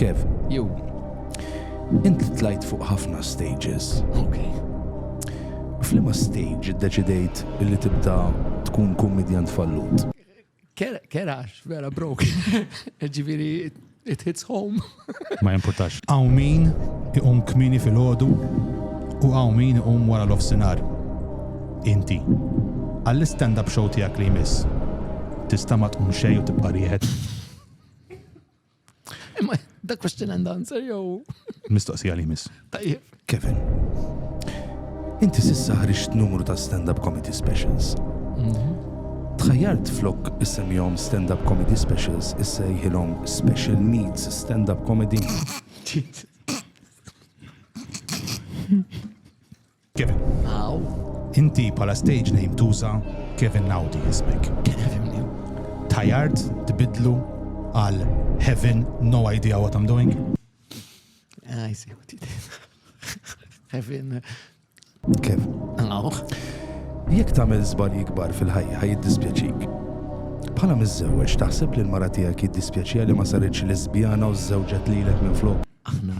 Kev, jew int tlajt fuq ħafna stages. Ok. Flima stage deċidejt li tibda tkun kummedjant fallut? Kerax, vera brok. Ġiviri, it hits home. Ma jimpurtax. Għaw min iqum kmini fil-ħodu u għaw min iqum wara l-offsinar. Inti. Għall-stand-up show tijak li jmiss. Tista ma tqum xej u tibqa rieħed. Imma da question and answer jew. Mistoqsija li miss. Tajjeb. Kevin. Inti sissa ħriġt numru ta' stand-up comedy specials. Mhm. Tħajjart flok issemjom stand-up comedy specials issa jħilhom special needs stand-up comedy. Kevin. Aw. Inti bħala stage name tuża Kevin Naudi ismek. Tajard tbidlu għal Heaven no idea what I'm doing. Ah, I see what you did. Heaven. Kevin. Aw. Jekk tagħmel żbal jikbar fil-ħajja ħaj jiddispjaċik. Bħala miżżewweġ taħseb li l-mara tiegħek jiddispjaċija li ma saritx lesbjana u żżewġet lilek minn flok. Aħna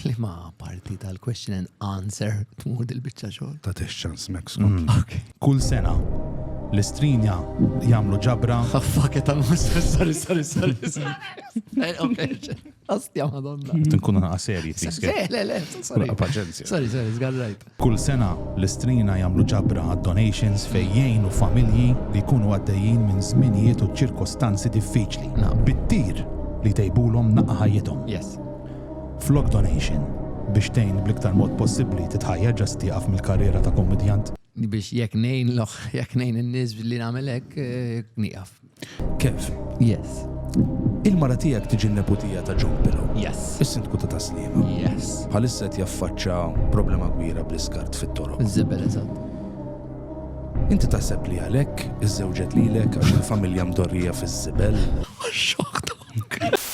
Liema parti tal-question and answer tmur dil-biċċa xogħol? Ta' tex ċans mek skont. Kull sena l-istrinja jagħmlu ġabra. Fakke tal-musa, sorry, sorry, sorry. sorry. Astja madonna. Tinkun għana serji, tiskej. Le, le, sorry. Paċenzja. Sorry, sorry, zgarrajt. Kull sena, l-Istrina jagħmlu ġabra għad-donations fejn jgħinu familji li jkunu għaddejjin minn żminijiet u ċirkostanzi diffiċli bit-tir li jtejbulhom naqqa ħajjithom. Flok donation biex tgħin bl-iktar mod possibbli titħajjar ġa se tieqaf mill-karriera ta' kummedjant? Biex jekk ngħin jekk ngħin in-nies billi nagħmel hekk, nieqaf. Kev. Yes. Il-mara tiegħek tiġi n-neputija ta' John Pillow. Yes. Is-sindku ta' Taslima. Yes. Bħalissa qed jaffaċċa problema kbira bl-iskart fit-toroq. Iż-żibel eżatt. Inti taħseb li għalhekk iżżewġet lilek għax il-familja mdorrija fiż-żibel? Xokta.